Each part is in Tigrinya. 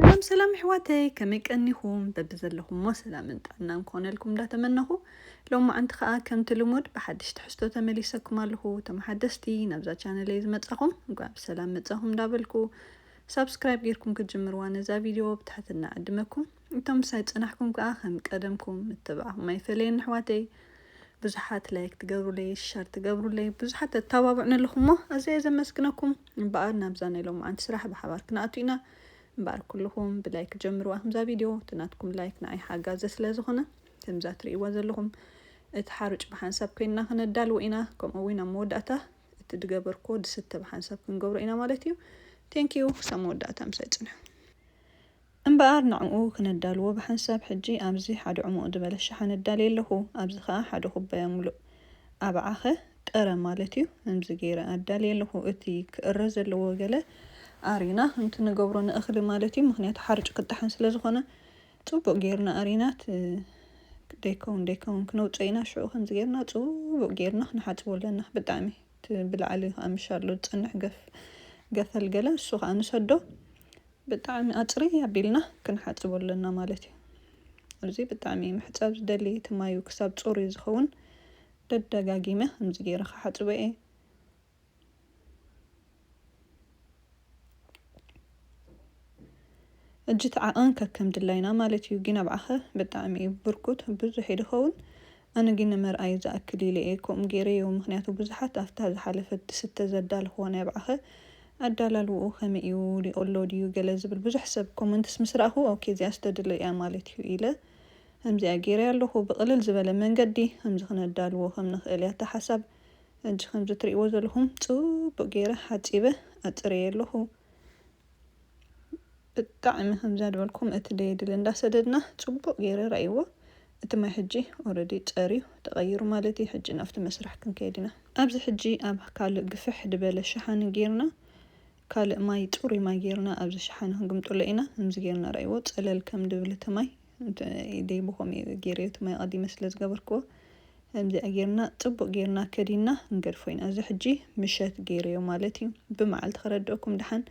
ሰላም ሰላም ኣሕዋተይ ከመይ ቀኒኹም በብዘለኹሞ ሰላምን ጥዕናን ክኾነልኩም እንዳተመነኹ ሎማዓንቲ ከኣ ከምቲ ልሙድ ብሓድሽ ትሕዝቶ ተመሊሰኩም ኣለኹ እቶም ሓደስቲ ናብዛ ቻነለይ ዝመጻኹም እንኳዕ ብሰላም መጻኹም እንዳበልኩ ሳብስክራይብ ጌርኩም ክትጅምርዋ ነዛ ቪድዮ ብትሕትና ዕድመኩም እቶም ምሳይ ጸናሕኩም ከኣ ከም ቀደምኩም ምትብባዕኩም ኣይፈለየኒ ኣሕዋተይ ብዙሓት ላይክ ትገብሩለይ ሸር ትገብሩለይ ብዙሓት ተተባብዑኒ ኣለኹም እሞ ኣዘየ ዘመስግነኩም እምበኣር ናብዛ ናይ ሎምዓንቲ ስራሕ ብሓባር ክንኣቱ ኢና እምበኣር ኩልኹም ብላይክ ጀምርዋ ከምዛ ቪድዮ እቲ ናትኩም ላይክ ንዓይ ሓጋዚ ስለ ዝኾነ ከምዛ ትርእይዋ ዘለኹም እቲ ሓሩጭ ብሓንሳብ ኮይንና ክነዳልዎ ኢና ከምኡ እውን ኣብ መወዳእታ እቲ ድገበርኩዎ ድስተ ብሓንሳብ ክንገብሮ ኢና ማለት እዩ ቴንኪዩ ክሳብ መወዳእታ ምሳይ ፅንሑ እምበኣር ንዕኡ ክነዳልዎ ብሓንሳብ ሕጂ ኣብዚ ሓደ ዕሙቕ ድበለ ሸሓነ እዳልየ ኣለኹ፣ ኣብዚ ኸኣ ሓደ ኩባያ ምሉእ። ኣብዓኸ? ጥረ ማለት እዩ፣ እምዚ ገይረ ኣዳልየ ኣለኹ፣ እቲ ክእረ ዘለዎ ገለ ኣሪና ከምቲ ንገብሮ ንእኽሊ ማለት እዩ፣ ምኽንያቱ ሓርጭ ክጠሓን ስለ ዝኾነ ጽቡቕ ገይርና ኣሪና እቲ ደይከውን ደይከውን ክነውጽኦ ኢና፣ ሽዑ ከምዚ ገይርና ጽቡቕ ገይርና ክንሓጽቦ ኣለና፣ ብጣዕሚ እቲ ብላዕሊ ኸኣ ምሻሎ ዝጸንሕ ገፍ ገፈል ገለ እሱ ኸኣ ንሰዶ፣ ብጣዕሚ ኣጽርይ ኣቢልና ክንሓጽቦ ኣለና ማለት እዩ። እዚ ብጣዕሚ ምሕጻብ ዝደሊ እቲ ማዩ ክሳብ ጽሩይ ዝኸውን ደደጋጊመ ከምዚ ጌረ ክሓጽቦ እየ። ሕጂ እቲ ዓቐን ከከም ድላይና ማለት እዩ ጊን ኣብዓኸ ብጣዕሚ እዩ ብርኩት ብዙሕ እዩ ድኸውን ኣነ ግን ንመርኣዪ ዝኣክል ኢለ እየ ከምኡ ገይረዮ ምኽንያቱ ብዙሓት ኣፍታ ዝሓለፈት ትስተ ዘዳለኽዎ ናይ ብዓኸ ኣዳላልውኡ ከመይ እዩ ሊቆሎ ድዩ ገለ ዝብል ብዙሕ ሰብ ኮመንትስ ምስ ረኣኹ ኦኬ እዚኣስ ተድለ እያ ማለት እዩ ኢለ ከምዚኣ ገይረያ ኣለኹ ብቅልል ዝበለ መንገዲ ከምዚ ክነዳልዎ ከም ንኽእል እያ እታ ሓሳብ ሕጂ ከምዚ ትሪእዎ ዘለኹም ጽቡቅ ገይረ ሓጺበ ኣጽርየያ ኣለኹ። ብጣዕሚ ከምዛ ድበልኩም እቲ ደየድሊ እንዳሰደድና ጽቡቅ ገይረ ረኣይዎ እቲ ማይ ሕጂ ኦረዲ ጸርዩ ተቀይሩ ማለት እዩ ሕጂ ናብቲ መስርሕ ክንከይድ ኢና ኣብዚ ሕጂ ኣብ ካልእ ግፍሕ ድበለ ሸሓኒ ገይርና ካልእ ማይ ጽሩይ ማይ ገይርና ኣብዚ ሸሓኒ ክንግምጥሎ ኢና ከምዚ ገይርና ረኣይዎ ጸለል ከም ድብል እቲ ማይ ኢደይ ብከምኡ ኢየ ጌረዮ እቲ ማይ ኣቀዲመ ስለ ዝገበርክዎ ከምዚኣ ጌርና ጽቡቅ ጌርና ከዲንና ክንገድፎ ኢና እዚ ሕጂ ምሸት ጌረዮ ማለት ኢዩ ብመዓልቲ ከረድኣኩም ደሓን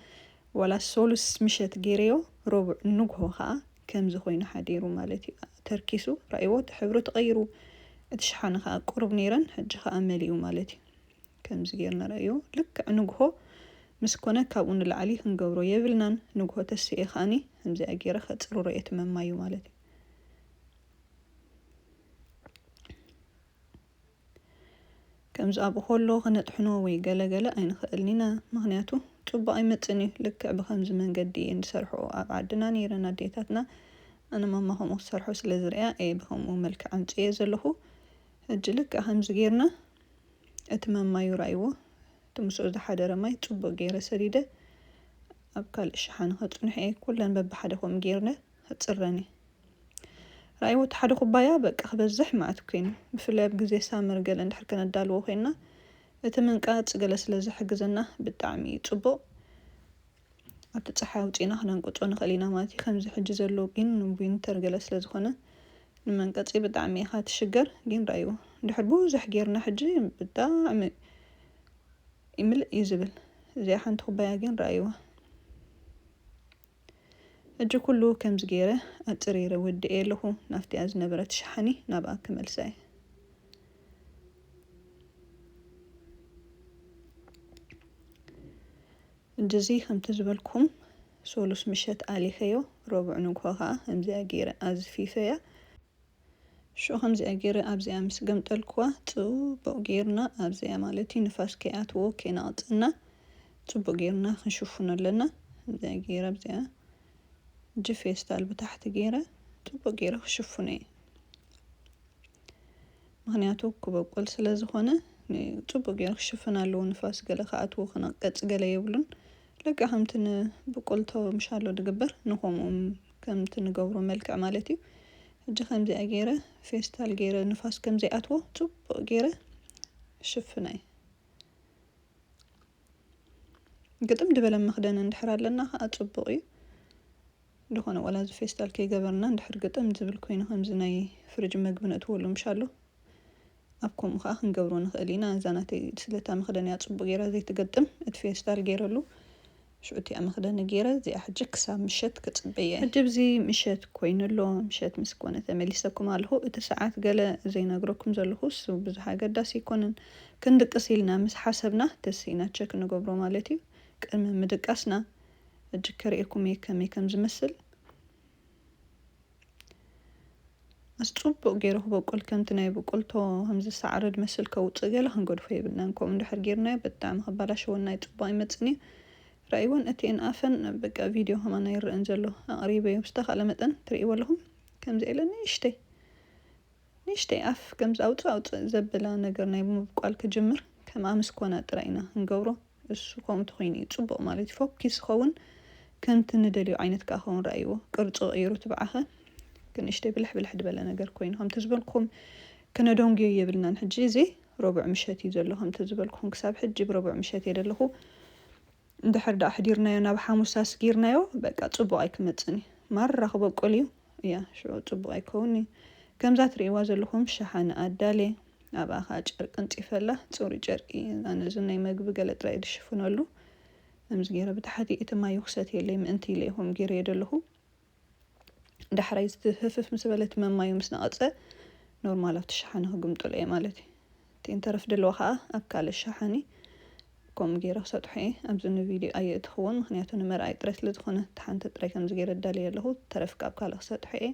ዋላ ሶሉስ ምሸት ጌረዮ ረቡዕ ንግሆ ከኣ ከምዚ ኮይኑ ሓዲሩ ማለት ኢዩ ተርኪሱ ራኣይዎ እቲ ሕብሩ ተቀይሩ እቲ ሸሓኒ ከኣ ቁሩብ ኔረን ሕጂ ከኣ መሊኡ ማለት ኢዩ። ከምዚ ጌርና ረኣዮ ልክዕ ንግሆ ምስ ኮነ ካብኡ ንላዕሊ ክንገብሮ የብልናን ንግሆ ተሲኤ ከኣኒ ከምዚኣ ጌረ ከጽርሮ እየ ትመማዩ ማለት እዩ ከምዚ ኣብኡ ከሎ ክነጥሕኖ ወይ ገለገለ ኣይንኽእልን ኢና ምክንያቱ ጽቡቅ ኣይመጽን እዩ ልክዕ ብከምዚ መንገዲ እየን ዝሰርሕኦ ኣብ ዓድና ነይረን ኣዴታትና ኣነ ማማ ከምኡ ክሰርሖ ስለ ዝርእያ እየ ብከምኡ መልክዕ ኣምጽኤ ዘለኹ ሕጂ ልክዕ ከምዚ ጌርና እቲ መማዩ ርኣይዎ፣ እቲ ምስኡ ዝሓደረ ማይ ጽቡቕ ገይረ ሰዲደ ኣብ ካልእ ሸሓኒ ከጽንሖ እየ፣ ኩለን በብሓደ ከምኡ ገይርለ ክጽረን እየ። ርኣይዎ እቲ ሓደ ኩባያ በቃ ክበዝሕ መዓት ኮይኑ፣ ብፍላይ ኣብ ግዜ ሳመር ገለ እንድሕር ከነዳልዎ ኮይንና፣ እቲ ምንቃጽ ገለ ስለ ዝሕግዘና ብጣዕሚ እዩ ጽቡቕ። ኣብቲ ጸሓይ ኣውጺእና ክነንቅጾ ንኽእል ኢና ማለት እዩ ከምዚ ሕጂ ዘሎ ጊን ንዊንተር ገለ ስለ ዝኾነ ንመንቀጺ ብጣዕሚ ኢኻ ትሽገር ጊን ራኣይዎ ድሕር ብዙሕ ጌርና ሕጂ ብጣዕሚ ይምልእ እዩ ዝብል እዚኣ ሓንቲ ኩባያ ጊን ራኣይዋ ሕጂ ኩሉ ከምዚ ጌረ ኣጽሪረ ወዲኤ ኣለኹ ናፍቲኣ ዝነበረት ሸሓኒ ናብኣ ክመልሳ እየ ድዚ ከምቲ ዝበልኩም ሶሉስ ምሸት ኣሊኸዮ ሮቡዕ ንግሆ ከኣ ከምዚኣ ጌረ ኣዝፊፈያ ሽዑ ከምዚኣ ጌረ ኣብዚኣ ምስ ገምጠልኩዋ ጽቡቕ ጌርና ኣብዚኣ ማለት እዩ ንፋስ ከይኣትዎ ከይነቕጸና ጽቡቕ ጌርና ክንሽፍኖ ኣለና ከምዚኣ ጌረ ኣብዚኣ እጂ ፌስታል ብታሕቲ ጌረ ጽቡቕ ጌረ ክሽፍኖ እየ። ምክንያቱ ክበቁል ስለ ዝኮነ ጽቡቅ ጌሩ ክሽፍን ኣለዎ ንፋስ ገለ ክኣትዎ ክነቀጽ ገለ የብሉን ልክዕ ከምቲ ን ብቁል ቶምሻሎ ድግበር ንኮምኡ ከምቲ ንገብሮ መልክዕ ማለት እዩ ሕጂ ከምዚኣ ጌረ ፌስታል ጌረ ንፋስ ከም ዘይኣትዎ ጽቡቅ ጌረ ሽፍናይ ግጥም ድበለ መክደን እንድሕር ኣለና ከኣ ጽቡቅ እዩ። እንተኾነ ዋላ እዚ ፌስታል ከይገበርና እንድሕር ግጥም ዝብል ኮይኑ ከምዚ ናይ ፍርጅ መግቢ ነእትወሉ ምሻሎ ኣብ ከምኡ ከኣ ክንገብሮ ንኽእል ኢና እዛ ናተይ ስለታ መኽደኒኣ ጽቡቅ ጌራ ዘይትገጥም እቲ ፌስታል ጌረሉ ሽዑ እቲኣ መኽደኒ ጌረ እዚኣ ሕጂ ክሳብ ምሸት ክጽበያ እየ። ሕጂብዚ ምሸት ኮይኑ ኣሎ ምሸት ምስ ኮነ ተመሊሰኩም ኣለኹ እቲ ሰዓት ገለ ዘይነግረኩም ዘለኹስ ብዙሕ ኣገዳሲ ኣይኮነን ክንድቅስ ኢልና ምስ ሓሰብና ተሲእና ቸክ ንገብሮ ማለት እዩ ቅድሚ ምድቃስና ሕጂ ከርእየኩም እየ ከመይ ከም ዝመስል ኣስ ጽቡቅ ገይሩ ክበቁል ከምቲ ናይ ብቁልቶ ከምዚ ሳዕሪ ድመስል ከውጽእ ገለ ክንገድፎ የብልናን ከምኡ እንድሕር ገይርናዮ ብጣዕሚ ከባላሸወና እዩ ጽቡቅ ኣይመጽን እዩ ራእይወን እቲኤን ኣፈን በቃ ቪድዮ ከማን ኣይረእን ዘሎ ኣቅሪበዮ ብዝተካእለ መጠን ትርእይዎ ኣለኹም ከምዚ ኤለ ንእሽተይ ንእሽተይ ኣፍ ከምዚ ኣውጽእ ኣውጽእ ዘብላ ነገር ናይ ምብቋል ክጅምር ከምኣ ምስ ኮና ጥራይ ኢና ክንገብሮ እሱ ከምኡ እንተኾይኑ እዩ ጽቡቕ ማለት እዩ። ፎኪስ ዝኸውን ከምቲ ንደልዮ ዓይነት ከኣ ክኸውን ረኣይዎ። ቅርጹ ቀይሩ ትብዓኸ ክንእሽተይ ብልሕ ብልሕ ድበለ ነገር ኮይኑ ከምቲ ዝበልኩኹም ክነደንጉዮ የብልናን ሕጂ እዚ ረቡዕ ምሸት እዩ ዘሎ ከምቲ ዝበልኩኹም ክሳብ ሕጂ ብረቡዕ ምሸት እየ ደለኹ እንድሕር ደኣ ኣሕዲርናዮ ናብ ሓሙስ ኣስጊርናዮ በቃ ጽቡቕ ኣይክመጽን እዩ ማራ ክበቁል እዩ እያ ሽዑ ጽቡቕ ኣይከውን እዩ ከምዛ ትርእይዋ ዘለኹም ሸሓነ ኣዳልየ ኣብኣ ከኣ ጨርቂ ኣንጺፈላ፣ ጽሩይ ጨርቂ፣ እዛ ነዚ ናይ መግቢ ገለ ጥራይ ዝሽፍነሉ፣ ከምዚ ገይረ ብታሕቲ እቲ ማዩ ክሰትየለይ ምእንቲ ኢለ'የ ከምኡ ገይረዮ ዘለኹ። ዳሕራይ እቲ ህፍፍ ምስ በለ እቲ መማዩ ምስ ነቐጸ፣ ኖርማል ኣብቲ ሸሓኒ ክግምጥሎ'የ ማለት እዩ። እቲ እንተረፍ ድልዋ ከኣ ኣብ ካልእ ሸሓኒ ከምኡ ገይረ ክሰጥሖ'የ። ኣብዚ ንቪድዮ ኣየእትኽዎን ምኽንያቱ ንመርኣዪ ጥራይ ስለ ዝኾነ። እታ ሓንቲ ጥራይ ከምዚ ገይረ ኣዳልየያ ኣለኹ፣ እቲ ተረፍ ከኣ ኣብ ካልእ ክሰጥሖ'የ።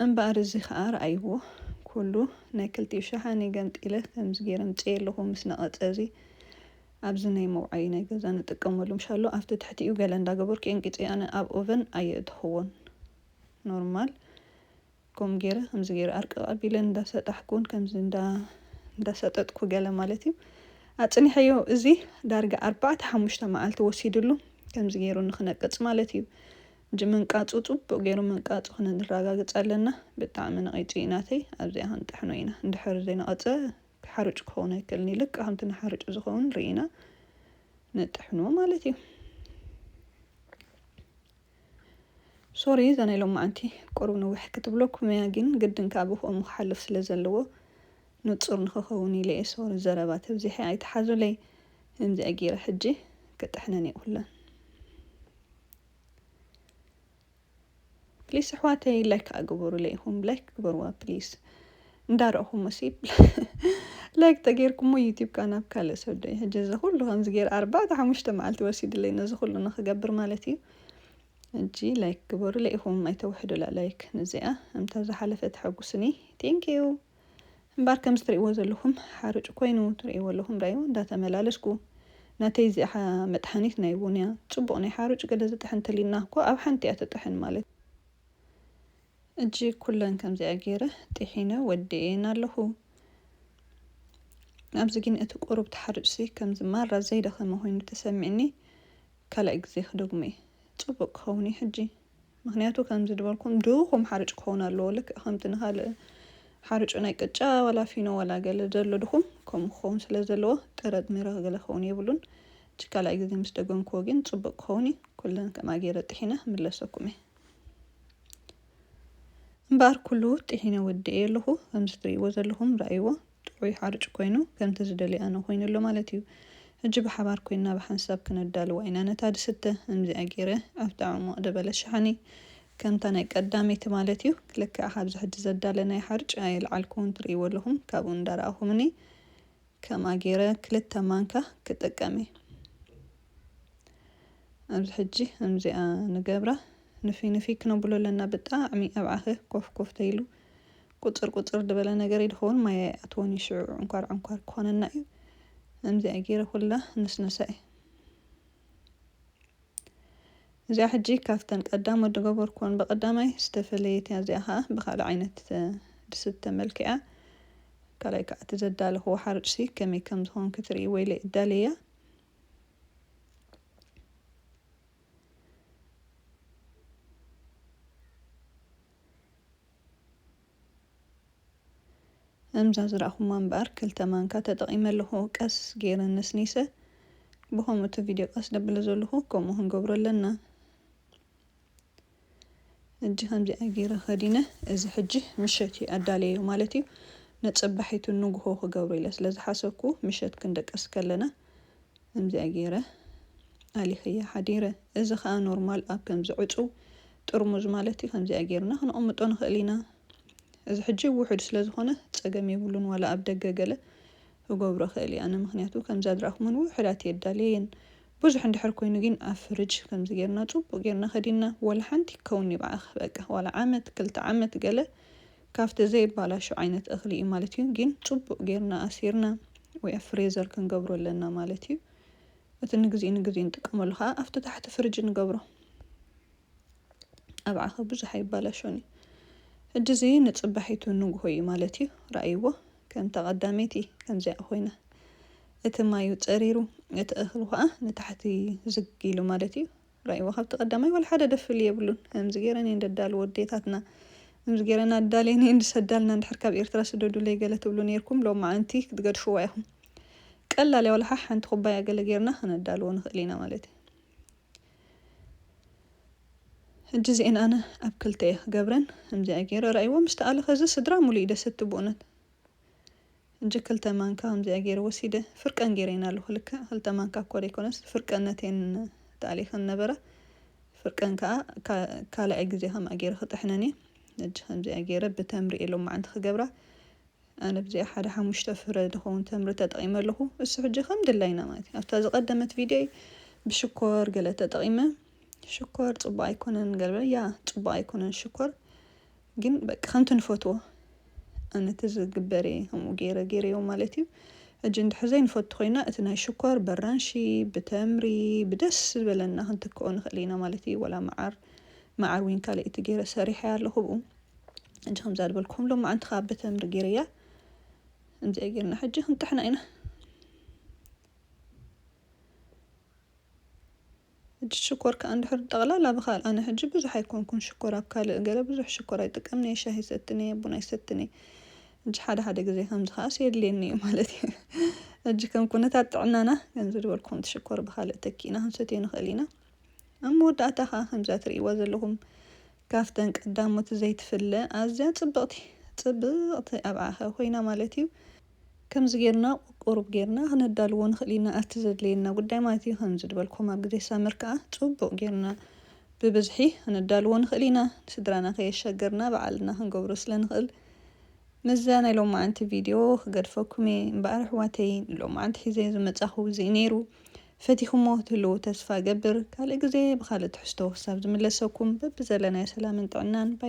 እምበኣር እዚ ኸኣ ርኣይዎ፣ ኵሉ ናይ ክልቲኡ ሸሓኒ ገምጢለ ከምዚ ገይረ ኣምጺኤ ኣለኹ፣ ምስ ነቐጸ እዚ ኣብዚ ናይ መውዓዪ ናይ ገዛ ንጥቀመሉ ምሻሎ ኣብቲ ትሕቲኡ ገለ እንዳገበርኩ ኤንቂጸ ኣነ ኣብ ኦቨን ኣየእተኽዎን ኖርማል ከምኡ ገይረ ከምዚ ገይረ ኣርቅቅ ኣቢለ እንዳ ሰጣሕኩ ን ከምዚ እንዳ እንዳ ሰጠጥኩ ገለ ማለት እዩ ኣጽኒሐዮ እዚ ዳርጋ ኣርባዕተ ሓሙሽተ መዓልቲ ወሲድሉ ከምዚ ገይሩ ንክነቅጽ ማለት እዩ እጂ ምንቃጹ ጽቡቅ ገይሩ ምንቃጹ ክንራጋግጽ ኣለና ብጣዕሚ ነቂጹ እዩ ናተይ ኣብዚኣ ክንጥሕኖ ኢና እንድሕር ዘይነቀጸ ሓሩጭ ክኸውን ኣይክእልን እዩ ልክዕ ከምቲ ንሓርጩ ዝኸውን ርኢና ንጥሕኖ ማለት እዩ ሶሪ እዛ ናይ ሎማዓንቲ ቁሩብ ንውሕ ክትብለኩም እያ ጊን ግድን ከኣ ብክኡሙ ክሓልፍ ስለ ዘለዎ ንጹር ንክከውን ኢለ እየ ሶሪ ዘረባ ተብዚሐ ኣይትሓዙለይ እምዚኣ ጊረ ሕጂ ክጥሕነን እየ ኩለን ፕሊስ ኣሕዋተይ ላይክ ከኣ ግበሩለይ ኢኩም ላይክ ግበርዋ ፕሊስ እንዳ ረእኹሙሲ ላይክ ተጌርኩሞ ዩቱብካ ናብ ካልእ ሰብ ዶ ይሕጂ እዚ ኩሉ ከምዚ ጌረ ኣርባዕተ ሓሙሽተ መዓልቲ ወሲድለይ ነዚ ኩሉ ንክገብር ማለት እዩ እጂ ላይክ ግበሩ ለኢኹም ኣይተውሕዱላ ላይክ ንዚኣ እምታ ዝሓለፈ ተሐጉስኒ ቴንኪዩ እምባር ከምዚ ትርእይዎ ዘለኹም ሓርጭ ኮይኑ ትርእይዎ ኣለኹም ዳዩ እንዳተመላለስኩ ናተይ እዚኣ መጥሓኒት ናይ ቡንያ ጽቡቕ ናይ ሓርጭ ገለ ዝጥሕን ተሊና እኮ ኣብ ሓንቲ እያ ትጥሕን ማለት ሕጂ ኩለን ከምዚኣ ጌረ ጢሒነ ወዲኤየን ኣለኹ። ኣብዚ ግን እቲ ቁሩብ ተሓርጭሲ ከምዚ ማራ ዘይደኸመ ኮይኑ ተሰሚዕኒ ካልኣይ ግዜ ክደግሞየ ጽቡቅ ክኸውን እዩ ሕጂ ምኽንያቱ ከምዚ ድበልኩም ድኹም ሓርጭ ክኸውን ኣለዎ ልክዕ ከምቲ ንኻልእ ሓርጩ ናይ ቅጫ ዋላ ፊኖ ዋላ ገለ ዘሎ ድኹም ከምኡ ክኸውን ስለ ዘለዎ ጥረጥሚረ ገለ ክኸውን የብሉን ሕጂ ካልኣይ ግዜ ምስ ደገምክዎ ግን ጽቡቅ ክኸውን እዩ ኩለን ከምኣ ጌረ ጢሒነ ክምለሰኩምየ። እምበኣር ኩሉ ጥሒነ ወዲኤዮ ኣለኹ ከምዚ ትርእይዎ ዘለኹም ርኣይዎ ጥዑይ ሓርጭ ኮይኑ ከምቲ ዝደልዮ ኣነ ኮይኑ ኣሎ ማለት እዩ ሕጂ ብሓባር ኮይንና ብሓንሳብ ክነዳልዋ ኢና ነታ ድስተ እምዚኣ ጌረ ኣብቲ ዕሙቅ ደበለ ሸሓኒ ከምታ ናይ ቀዳመይቲ ማለት እዩ ልክዕ ካብዚ ሕጂ ዘዳለናዮ ሓርጭ ኣየልዓልኩዎን ትርእይዎ ኣለኹም ካብኡ እንዳረኣኹምኒ ከምኣ ጌረ ክልተ ማንካ ክጥቀም እየ ኣብዚ ሕጂ እምዚኣ ንገብራ ንፍይ ንፍይ ክነብሎ ኣለና ብጣዕሚ ኣብ ዓኽ ኮፍ ኮፍ ተይሉ ቁጽር ቁጽር ድበለ ነገር ይድኸውን ማይ ኣይኣትዎን እዩ ሽዑ ዕንኳር ዕንኳር ክኾነና እዩ እምዚኣ ጌረ ኩላ ንስነሳ እየ እዚኣ ሕጂ ካብተን ቀዳም ወዲ ገቦርኮን ብቀዳማይ ዝተፈለየት እያ እዚኣ ከኣ ብካልእ ዓይነት ድስት ተመልኪዓ ካልኣይ ከኣ እቲ ዘዳለክዎ ሓሩጭሲ ከመይ ከም ዝኮን ክትርእይዎ ኢለ እዳልየያ እምዛ ዝረኣኹማ እምበኣር ክልተ ማንካ ተጠቒመ ኣለኹ ቀስ ጌረ ነስኒሰ ብኸምኡ እቲ ቪድዮ ቀስ ደብለ ዘለኹ ከምኡ ክንገብሮ ኣለና እጂ ከምዚኣ ጌረ ከዲነ እዚ ሕጂ ምሸት እዩ ኣዳለየዮ ማለት እዩ ንጽባሒቱ ንጉሆ ክገብሮ ኢለ ስለ ዝሓሰብኩ ምሸት ክንደቀስ ከለና እምዚኣ ጌረ ኣሊኽያ ሓዲረ እዚ ከኣ ኖርማል ኣብ ከምዚ ዕጹው ጥርሙዝ ማለት እዩ ከምዚኣ ጌርና ክነቅምጦ ንክእል ኢና እዚ ሕጂ ውሑድ ስለ ዝኮነ ጸገም የብሉን ዋላ ኣብ ደገ ገለ ክገብሮ ክእል እየ ኣነ ምክንያቱ ከምዛ ዝራእኩመን ውሑዳት እየ ኣዳልየየን ብዙሕ እንድሕር ኮይኑ ጊን ኣብ ፍርጅ ከምዚ ጌርና ጽቡቅ ጌርና ከዲንና ወላ ሓንቲ ክከውን ይብዓክ በቃ ዋላ ዓመት ክልተ ዓመት ገለ ካብቲ ዘይባላሾ ዓይነት እክሊ እዩ ማለት እዩ ጊን ጽቡቅ ጌርና ኣሲርና ወይ ኣብ ፍሬዘር ክንገብሮ ኣለና ማለት እዩ። እቲ ንግዜ ንግዜ ንጥቀመሉ ከኣ ኣብቲ ታሕቲ ፍርጅ ንገብሮ ኣብዓኸ ብዙሕ ኣይባላሾን እዩ ሕጂ እዚ ንጽባሒቱ ንግሆ እዩ ማለት እዩ ረኣይዎ ከምታ ቀዳመይቲ ከምዚኣ ኮይና እቲ ማዩ ጸሪሩ እቲ እኽሉ ከኣ ንታሕቲ ዝግ ኢሉ ማለት እዩ ራይዎ ካብቲ ቀዳማይ ዋላ ሓደ ደፍሊ የብሉን ከምዚ ገይረን እየን ደዳልዎ ኣዴታትና ከምዚ ገይረን ኣዳልየን እየን ዝሰዳልና እንድሕር ካብ ኤርትራ ስደዱለይ ገለ ትብሉ ኔርኩም ሎማዓንቲ ክትገድፍዋ ኢኹም ቀላል እያ ዋላ ሓ ሓንቲ ኩባያ ገለ ገይርና ከነዳልዎ ንኽእል ኢና ማለት እዩ ሕጂ እዚኤን ኣነ ኣብ ክልተ እየ ክገብረን ከምዚኣ ገይረ ራእይዎ ምስ ተኣለ ከዚ ስድራ ሙሉ እዩ ደሰቲ ብኡነት ሕጂ ክልተ ማንካ ከምዚኣ ጌረ ወሲደ ፍርቀን ጌረየን ኣለኹ ልክዕ ክልተ ማንካ እኳ ዘይኮነስ ፍርቀን ነትየን ተኣሊኸን ነበረ ፍርቀን ከኣ ካልኣይ ግዜ ከምኣ ጌረ ክጥሕነን እየ ሕጂ ከምዚኣ ጌረ ብተምሪ እየ ሎማዓንቲ ክገብራ ኣነ ብዚኣ ሓደ ሓሙሽተ ፍረ ዝኸውን ተምሪ ተጠቒመ ኣለኹ እሱ ሕጂ ከም ድላይና ማለት እዩ ኣብታ ዝቐደመት ቪድዮይ ብሽኮር ገለ ተጠቒመ ሽኮር ጽቡቕ ኣይኮነን ገለ ያ ጽቡቕ ኣይኮነን ሽኮር ግን በቃ ከምቲ ንፈትዎ ኣነቲ ዝግበር እየ ከምኡ ገይረ ገይረዮ ማለት እዩ ሕጂ እንድሕር ዘይንፈቱ ኮይና እቲ ናይ ሽኮር በራንሺ ብተምሪ ብደስ ዝበለና ክንትክኦ ንኽእል ኢና ማለት እዩ ወላ መዓር መዓር ዊን ካልእቲ ገይረ ሰሪሐ ኣለኹ ብኡ ሕጂ ከምዛ ዝበልኩኹም ሎማዓንቲ ከዓ ብተምሪ ገይረያ ከምዚኣ ገይርና ሕጂ ክንጥሕና ኢና ሕጂ ሽኮር ከኣ እንድሕር ጠቕላላ ብካል ኣነ ሕጂ ብዙሕ ኣይኮንኩን ሽኮር ኣብ ካልእ ገለ ብዙሕ ሽኮር ኣይጥቀምን እየ ሻሂ ይሰትን እየ ቡን ኣይሰትን እየ ሕጂ ሓደ ሓደ ግዜ ከምዚ ከኣስ የድልየኒ እዩ ማለት እዩ ሕጂ ከም ኩነታት ጥዕናና ከምዚ ዝበልኩም እቲ ሽኮር ብካልእ ተኪእና ክንሰትዮ ንኽእል ኢና ኣብ መወዳእታ ከኣ ከምዛ ትርእይዋ ዘለኹም ካፍተን ቀዳሞት ዘይትፍለ ኣዝያ ጽብቕቲ ጽብቕቲ ኣብዓኸ ኮይና ማለት እዩ ከምዚ ጌርና ቁሩብ ጌርና ክነዳልዎ ንኽእል ኢና ኣቲ ዘድልየና ጉዳይ ማለት እዩ ከምዚ ድበልኩም ኣብ ግዜ ሳመር ከኣ ጽቡቅ ጌርና ብብዝሒ ክነዳልዎ ንኽእል ኢና ንስድራና ከየሸገርና ብዓልና ክንገብሮ ስለ ንኽእል ምስዛ ናይ ሎማዓንቲ ቪድዮ ክገድፈኩም እየ እምበኣር ኣሕዋተይ ንሎማዓንቲ ሒዘዮ ዝመጻኹ እዚ እዩ ኔሩ ፈቲኹሞ ክትህልዉ ተስፋ እገብር ካልእ ግዜ ብኻልእ ትሕዝቶ ክሳብ ዝምለሰኩም በብዘለናዮ ሰላምን ጥዕናን ባይ